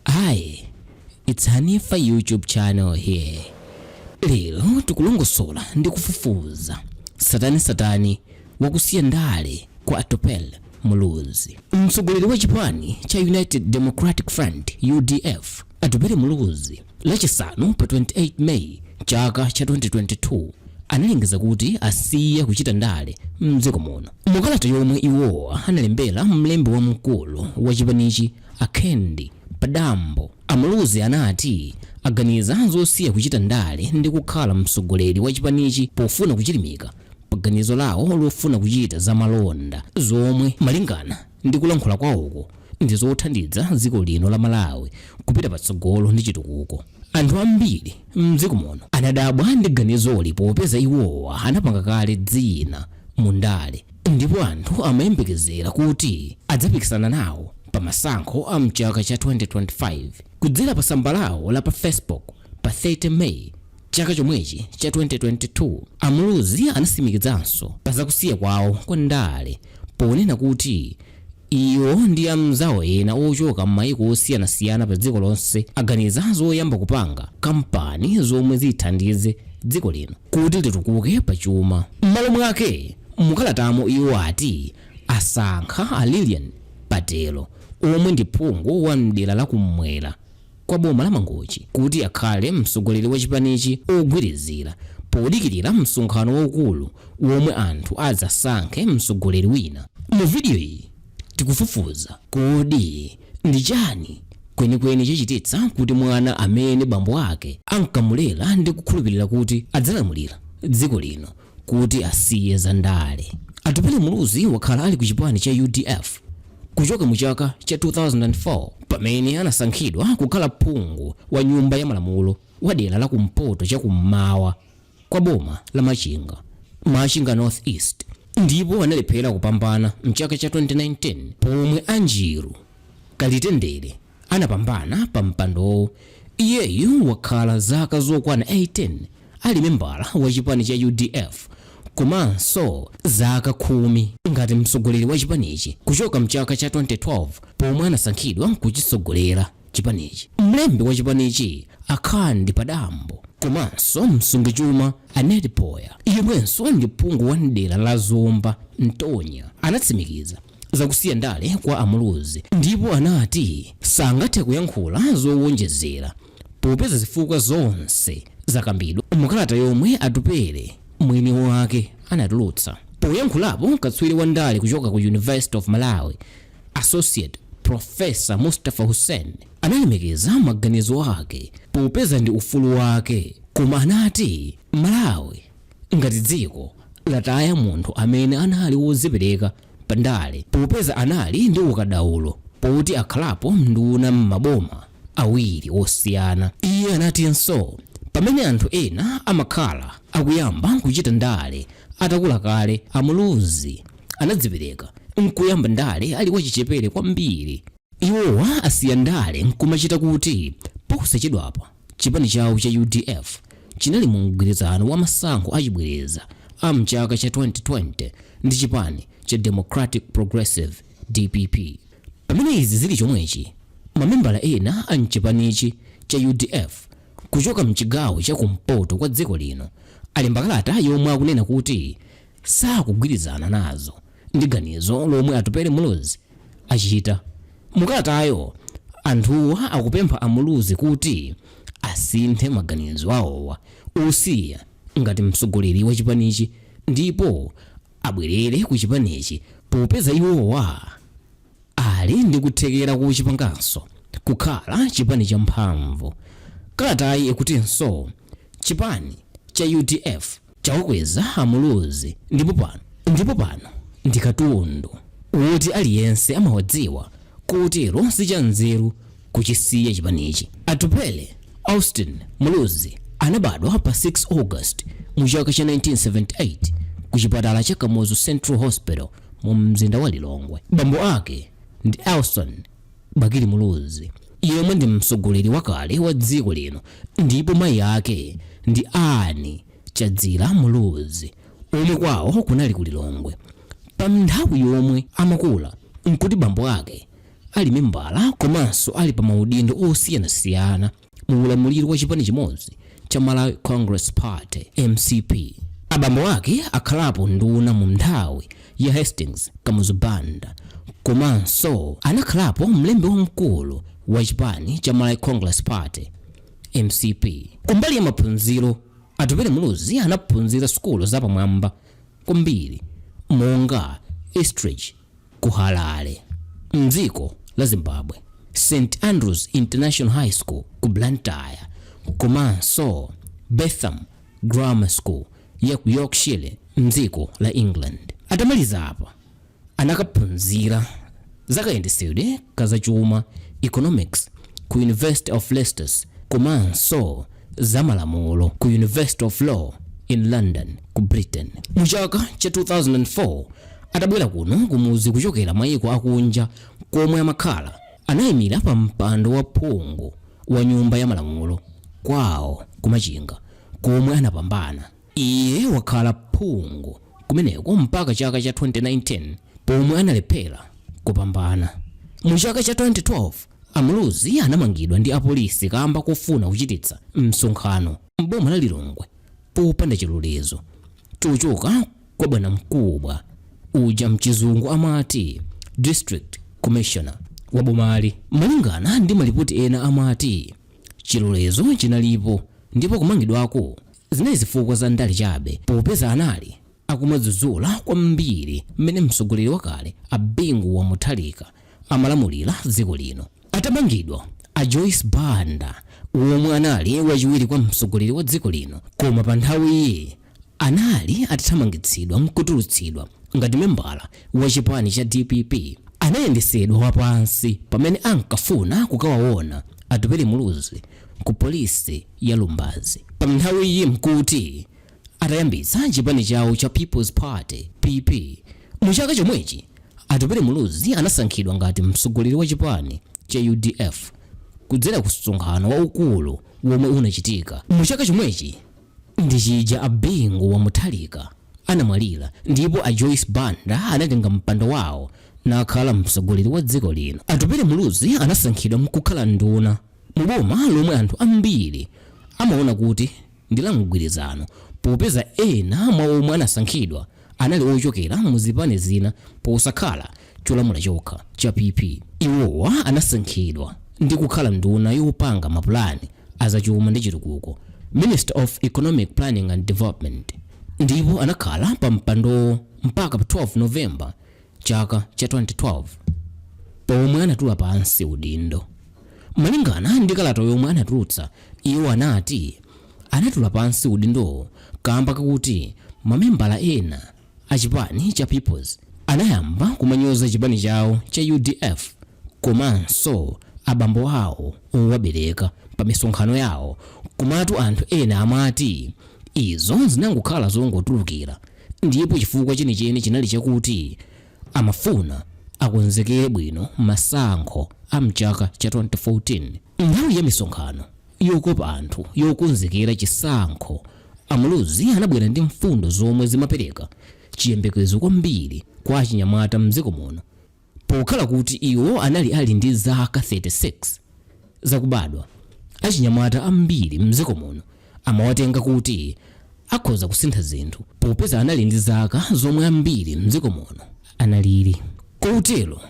Hi, it's Hanifa YouTube channel here. Lero tikulongosola ndi kufufuza tsatanetsatane wakusiya ndale kwa Atupele Muluzi. Mtsogoleri wa chipani cha United Democratic Front UDF Atupele Muluzi lachisanu pa 28 May chaka cha 2022 analengeza kuti asiya kuchita ndale mdziko muno. Mukalata yomwe iwowa analembera mlembi wamkulu wa chipanichi a Kandi Padambo, a Muluzi anati aganiza zosiya kuchita ndale ndi kukhala mtsogoleri wa chipanichi pofuna kuchilimika paganizo lawo lofuna kuchita za malonda zomwe malingana ndi kulankhula kwawoko ndi zothandiza dziko lino la Malawi kupita patsogolo ndi chitukuko. Anthu ambiri m'dziko muno anadabwa ndi ganizoli popeza iwowa anapanga kale dzina mu ndale ndipo anthu amayembekezera kuti adzapikisana nawo pa masankho a mchaka cha 2025. Kudzera pa tsamba lawo la pa Facebook pa 30 May Chaka chomwechi cha 2022, a Muluzi anatsimikizanso pa za kusiya kwawo kwa ndale ponena kuti iwo ndi amzawo ena ochoka mmayiko osiyanasiyana pa dziko lonse aganiza zoyamba kupanga kampani zomwe zithandize dziko lino kuti litukuke pa chuma. Mmalo mwake, mu kalatamo iwo ati asankha a Lilian Patel omwe ndi phungu wa mdera la kummwera, kwa boma la Mangochi kuti akhale mtsogoleri wa chipanichi ogwirizira podikilira msonkhano waukulu womwe anthu adzasankhe mtsogoleri wina. Mu video iyi tikufufuza kodi ndi chani kwenikweni chachititsa kuti mwana amene bambo ake ankamulera ndi kukhulupirira kuti adzalamulira dziko lino kuti asiye za ndale. Atupele Muluzi wakhala ali ku chipani cha udf kuchoka mu chaka cha 2004 pamene anasankhidwa kukhala phungu wa nyumba ya malamulo wa dera la kumpoto cha kummawa kwa boma la Machinga, Machinga North East, ndipo analephera kupambana mchaka cha 2019 pomwe Ajilu Kalitendere anapambana pa mpandowo. Iyeyu wakhala zaka zokwana 18 ali membala wa chipani cha udf komanso zaka khumi ngati mtsogoleri wa chipanichi kuchoka mchaka cha 2012 pomwe anasankhidwa kuchitsogolera chipanichi. Mlembi wa chipanichi a Kandi Padambo komanso msungichuma a Ned Poya yemwenso ndi phungu wa m'dera la Zomba Ntonya anatsimikiza zakusiya ndale kwa a Muluzi ndipo anati sangathe kuyankhula zowonjezera popeza zifukwa zonse zakambidwa mukalata yomwe Atupele mwini wake anatulutsa. Poyankhulapo, katswiri wa ndale kuchoka ku University of Malawi, Associate Professor Mustafa Hussein analemekeza maganizo ake popeza ndi ufulu wake, koma anati Malawi Ngati dziko lataya munthu amene anali wozipereka pa ndale popeza anali ndi ukadaulo poti akhalapo nduna m'maboma awiri osiyana. Iye anatinso pamene anthu ena amakhala akuyamba kuchita ndale atakula kale, a Muluzi anadzipereka n'kuyamba ndale ali wachichepere kwambiri. Iwowa asiya ndale n'kumachita kuti posachedwapa chipani chawo cha udf chinali mu mgwirizano wa masankho achibwereza a m'chaka cha 2020 ndi chipani cha Democratic Progressive, dpp. Pamene izi zili chomwechi, mamembala ena a m'chipanichi cha udf kuchoka m'chigawo cha kumpoto kwa dziko lino alemba kalata yomwe akunena kuti sakugwirizana nazo. ndi ganizo lomwe Atupele Muluzi achita. Mukalatayo, anthuwa akupempha a Muluzi kuti asinthe maganizo awowa osiya ngati mtsogoleri wa chipanichi ndipo abwerere ku chipanichi popeza iwowa ali ndi kuthekera kochipanganso kukhala chipani cha mphamvu. Kalatayi ikutinso chipani cha udf Chawakweza a Muluzi ndipo pano ndi katundu woti aliyense amawadziwa kotero sichanzeru kuchisiya chipanichi. Atupele Austin Muluzi anabadwa pa 6 August mu chaka cha 1978 ku chipatala cha Kamuzu Central Hospital mu mzinda wa Lilongwe. Bambo ake ndi Elson. Bakili Muluzi yemwe ndi mtsogoleri wakale wa dziko lino ndipo mayi ake ndi Anne Chadzira Muluzi omwe kwawo kunali ku Lilongwe. Pa nthawi yomwe amakula n'kuti bambo ake ali membala komanso ali pa maudindo osiyanasiyana. mu ulamuliro wa chipani chimodzi cha Malawi Congress Party, mcp. Abambo ake akhalapo nduna mu nthawi ya Hastings Kamuzu Banda komanso anakhalapo mlembi wamkulu wa chipani cha Malawi Congress Party, mcp. Kumbali ya maphunziro, Atupele Muluzi anaphunzira sukulu zapamwamba kwambiri monga Eastridge Ku Harare, m'dziko la Zimbabwe, St Andrew's International High School ku Blantyre komanso Bentham Grammar School ya ku Yorkshire, m'dziko la England. Atamaliza apa, anakaphunzira za kayendetsedwe ka zachuma, economics, ku University of Leicester komanso za malamulo ku University of Law in London ku Britain. Mu chaka cha 2004 atabwera kuno kumudzi kuchokera mayiko akunja komwe amakhala, anayimira pa mpando wa phungu wa nyumba ya malamulo kwawo ku Machinga komwe anapambana. Iye wakhala phungu kumeneko mpaka chaka cha 2019 pomwe analephera kupambana. Mu chaka cha 2012, a Muluzi anamangidwa ndi apolisi kamba kofuna kuchititsa msonkhano m'boma la Lilongwe popanda chilolezo chochoka kwa bwanamkubwa uja mchizungu amati District Commissioner wa bomali. Malingana ndi malipoti ena amati chilolezo chinalipo ndipo kumangidwako Zinali zifukwa za ndale chabe popeza anali akumadzudzula kwambiri mmene mtsogoleri wakale a Bingu wa Mutharika amalamulira dziko lino. Atamangidwa, a Joyce Banda womwe anali wachiwiri kwa mtsogoleri wa dziko lino koma pa nthawiyi anali atathamangitsidwa n'kutulutsidwa ngati membala wa chipani cha dpp, anayendetsedwa wapansi pamene ankafuna kukawaona Atupele Muluzi. ku polisi ya Lumbadzi. Panthawiyi mkuti atayambitsa chipani chawo cha People's Party, PP. Mu chaka chomwechi, Atupele Muluzi anasankhidwa ngati mtsogoleri wa chipani cha udf kudzera ku msonkhano waukulu womwe unachitika mu chaka chomwechi ndi chija a Bingu wa Mutharika anamwalira ndipo a Joyce Banda anatenga mpando wawo nakhala mtsogoleri wa dziko lino. Atupele Muluzi anasankhidwa mkukhala nduna Mu boma lomwe anthu ambiri amaona kuti ndi la mgwirizano popeza ena mwa omwe anasankhidwa anali ochokera mu zipani zina posakhala cholamula chokha cha PP, iwowa anasankhidwa ndi kukhala nduna yopanga mapulani a zachuma ndi chitukuko, Minister of Economic Planning and Development, ndipo anakhala pa mpandowo mpaka pa 12 November, Chaka cha 2012 pomwe anatula pansi udindo. Malingana ndi kalata yomwe anatulutsa, iwo anati anatula pansi udindowo kamba kakuti mamembala ena a chipani cha People's anayamba kumanyoza chipani chawo cha udf komanso abambo awo owabereka pa misonkhano yawo komatu anthu ena amati izo zinangokhala zongotulukira Ndipo chifukwa chenicheni chinali chakuti amafuna akonzekere bwino masankho a m'chaka cha 2014. Nthawi ya misonkhano yokopa anthu yokonzekera chisankho, a Muluzi anabwera ndi mfundo zomwe zimapereka chiyembekezo kwambiri kwa achinyamata m'dziko muno. Pokhala kuti iwo anali ali ndi zaka 36 zakubadwa, achinyamata ambiri m'dziko muno amawatenga kuti akhoza kusintha zinthu popeza anali ndi zaka zomwe ambiri m'dziko muno analili, kotero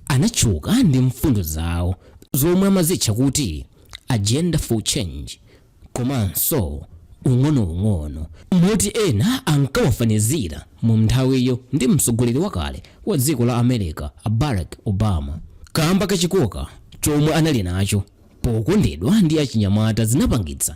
anatchuka ndi mfundo zawo zomwe amazitcha kuti Agenda for Change. komanso ung'onoung'ono moti ena ankawafanizira mu nthawiyo ndi mtsogoleri wakale wa dziko la america a barack obama kamba ka chikoka chomwe anali nacho pokondedwa ndi achinyamata zinapangitsa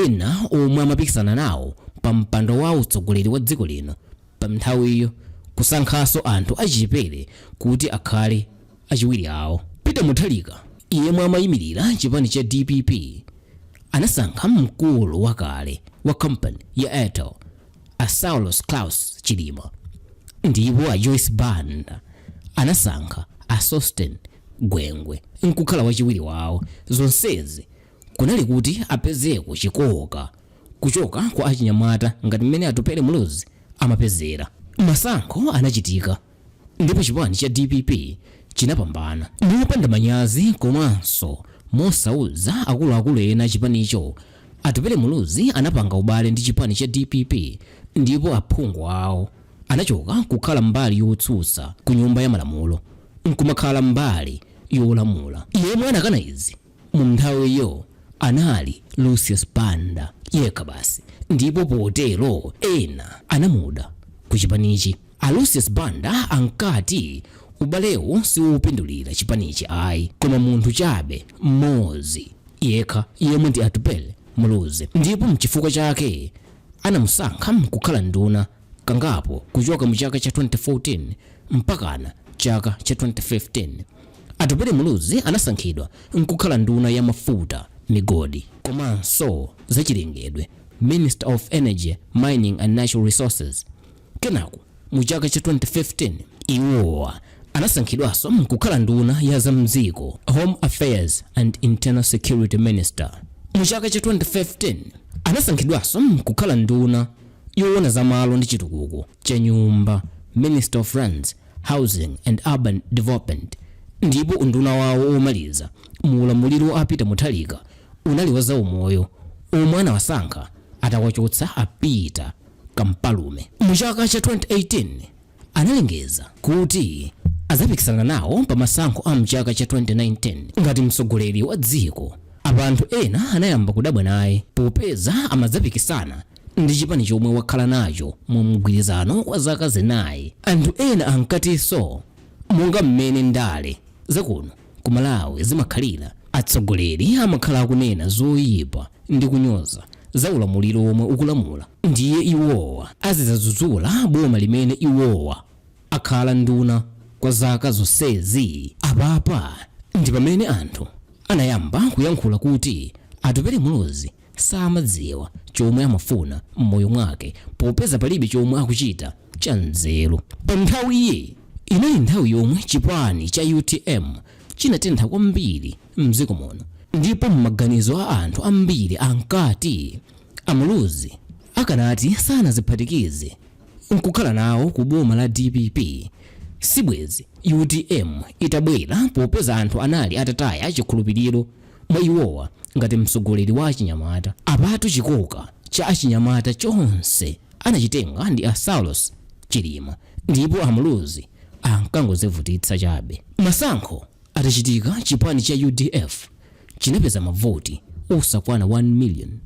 ena omwe amapikisana nawo pa mpando wa utsogoleri wa dziko lino pa nthawiyo kusankhanso anthu achichepere kuti akhale achiwiri awo peter mutharika yemwe amayimirira chipani cha dpp anasankha mkulu wakale wa company ya airtel a saulos klaus chilima ndipo a joyce banda anasankha a sosten gwengwe nkukhala wachiwiri wawo zonsezi kunali kuti apezeko chikoka kuchoka kwa achinyamata ngati mmene atupele muluzi amapezera masankho anachitika Ndipo chipani cha dpp chinapambana mopanda manyazi komanso mosauza akuluakulu ena achipanicho. Atupele Muluzi anapanga ubale ndi chipani cha dpp ndipo aphungu awo anachoka kukhala mbali yotsutsa ku Nyumba ya Malamulo n'kumakhala mbali yolamula. Yemwe anakana izi. Munthawiyo anali Lucius Banda yekha basi ndipo potero ena anamuda ku chipanichi. A Lucius Banda ankati ubalewu siwopindulira chipanichi ayi koma munthu chabe mmodzi yekha yemwe ndi Atupele Muluzi ndipo mchifukwa chake anamusankha kukhala nduna. kangapo kuchoka mu chaka cha 2014 mpakana chaka cha 2015 atupele muluzi anasankhidwa nkukhala nduna ya mafuta migodi komanso zachilengedwe minister of energy mining and natural resources kenako mu chaka cha 2015 iwowa anasankhidwanso kukhala nduna ya za mdziko home affairs and internal security minister mu chaka cha 2015 anasankhidwanso kukhala nduna Yoona za malo ndi chitukuko cha nyumba, Minister of Lands, Housing and Urban Development, ndipo unduna wawo omaliza mu ulamuliro wa a Peter Mutharika unali wa zaumoyo omwe anawasankha atawachotsa a Peter Kumpalume mu chaka cha 2018. analengeza kuti adzapikisana nawo pa masankho a mchaka cha 2019 ngati mtsogoleri wa dziko. Apa anthu ena anayamba kudabwa naye popeza amadzapikisana ndi chipani chomwe wakhala nacho mu mgwirizano kwa zaka zinayi. Anthu ena ankatinso monga mmene ndale zakuno ku Malawi zimakhalira, atsogoleri amakhala akunena zoipa ndi kunyoza za ulamuliro omwe ukulamula ndiye iwowa azidzadzudzula boma limene iwowa akhala nduna kwa zaka zonsezi? Apapa ndi pamene anthu anayamba kuyankhula kuti Atupele Muluzi samadziwa chomwe amafuna mmoyo mwake popeza palibe chomwe akuchita cha nzeru. Pa nthawiyi inali nthawi yomwe chipani cha utm chinatentha kwambiri mdziko muno ndipo mmaganizo a anthu ambiri ankati a Muluzi akanati sanadziphatikize nkukhala nawo ku boma la dpp sibwezi utm itabwera popeza anthu anali atataya chikhulupiriro mwa iwowa ngati mtsogoleri wa achinyamata. Apatu chikoka cha achinyamata chonse anachitenga ndi a Saulos Chilima ndipo a Muluzi ankangodzivutitsa chabe. Masankho atachitika chipani cha udf chinapeza mavoti osakwana 1 million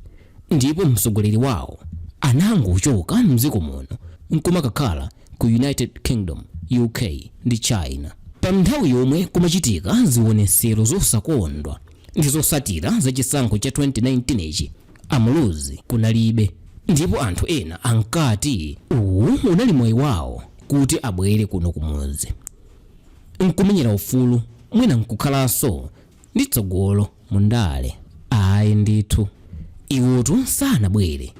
ndipo mtsogoleri wawo anangochoka m'dziko muno n'kumakakhala ku United Kingdom, UK, ndi China. Panthawi yomwe kumachitika zionetsero zosakondwa ndi zotsatira za chisankho cha 2019 chi, a Muluzi kunalibe ndipo anthu ena ankati uwu unali mwayi wawo kuti abwere kuno kumudzi n'kumenyera ufulu mwina n'kukhalanso ndi tsogolo mu ndale. Ayi ndithu. Iwotu sanabwere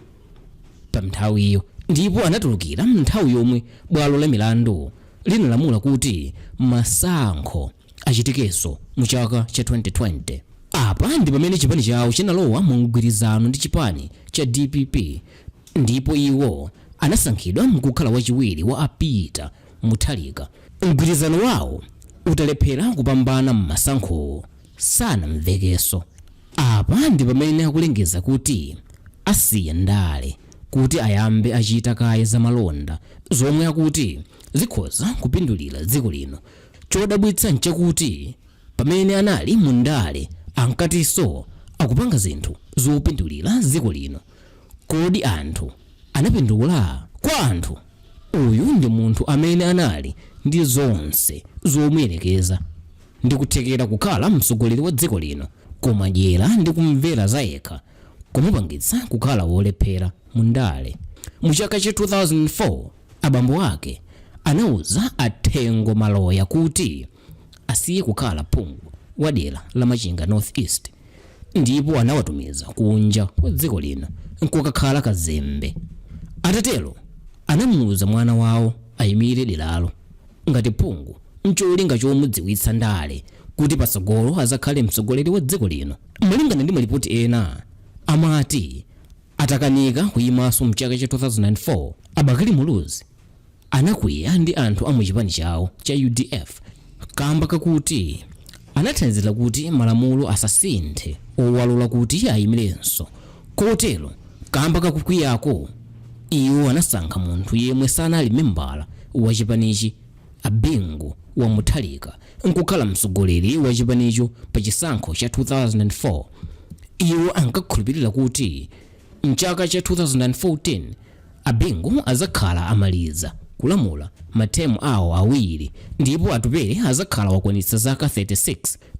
pa nthawiyo ndipo anatulukira m'nthawi yomwe bwalo la milandu linalamula kuti masankho achitikenso mu chaka cha 2020. Apa ndi pamene chipani chawo chinalowa mu mgwirizano ndi chipani cha dpp ndipo iwo anasankhidwa nkukhala wachiwiri wa a Peter Mutharika mgwirizano wawo utalephera kupambana mmasankhowo sanamvekenso. Apa ndipamene akulengeza kuti asiya ndale kuti ayambe achita kaye zamalonda zomwe akuti zikhoza kupindulira dziko lino. Chodabwitsa nchakuti pamene anali mu ndale ankatinso akupanga zinthu zopindulira dziko lino. Kodi anthu anapindula? Kwa anthu. Uyu ndi munthu amene anali ndi zonse zomuyerekeza ndi kuthekera kukhala mtsogoleri wa dziko lino koma dyera ndi kumvera zayekha kumupangitsa kukhala wolephera mu ndale. Mu chaka cha 2004 abambo ake anauza a Thengo Maloya kuti. asiye kukhala phungu wa dera la Machinga North East ndipo anawatumiza kunja kwa dziko lino nkukakhala kazembe. Atatero anamuuza mwana wawo ayimire deralo ngati phungu ncholinga chomudziwitsa ndale kuti patsogolo azakhale mtsogoleri wa dziko lino. Malingana ndi malipoti ena amati atakanika kuyimanso mchaka cha 2004 a Bakili Muluzi anakwiya ndi anthu a mu chipani chawo cha udf kamba kakuti anathandizira kuti malamulo asasinthe owalola kuti ayimilenso kotero kamba kakukwiyako iwo anasankha munthu yemwe sanali membala wa chipanichi a Bingu wa Mutharika nkukhala mtsogoleri wa chipanicho pa chisankho cha 2004 iwo ankakhulupirira kuti mchaka cha 2014 A Bingu azakhala amaliza kulamula matemu awo awiri ndipo Atupele azakhala wakwanitsa zaka 36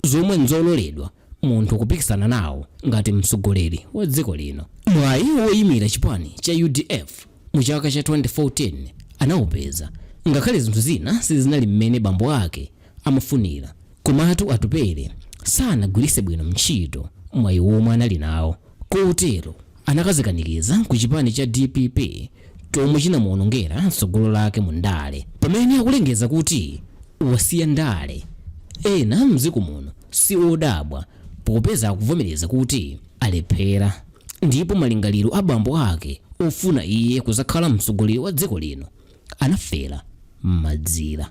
zomwe nzololedwa munthu kupikisana nawo ngati mtsogoleri wa dziko lino. Mwayi woyimira chipani cha udf mu chaka cha 2014 anawupeza ngakhale zinthu zina sizinali mmene bambo ake amafunira komatu Atupele sanagwiritse bwino ntchito mwayi womwe anali nawo. Kotero anakadzikanikiza ku chipani cha dpp chomwe chinamuonongera tsogolo lake mu ndale. Pamene akulengeza kuti wasiya ndale, ena mdziko muno si odabwa popeza akuvomereza kuti alephera ndipo malingaliro a bambo ake ofuna iye kuzakhala mtsogoleri wa dziko lino anafera mmazira.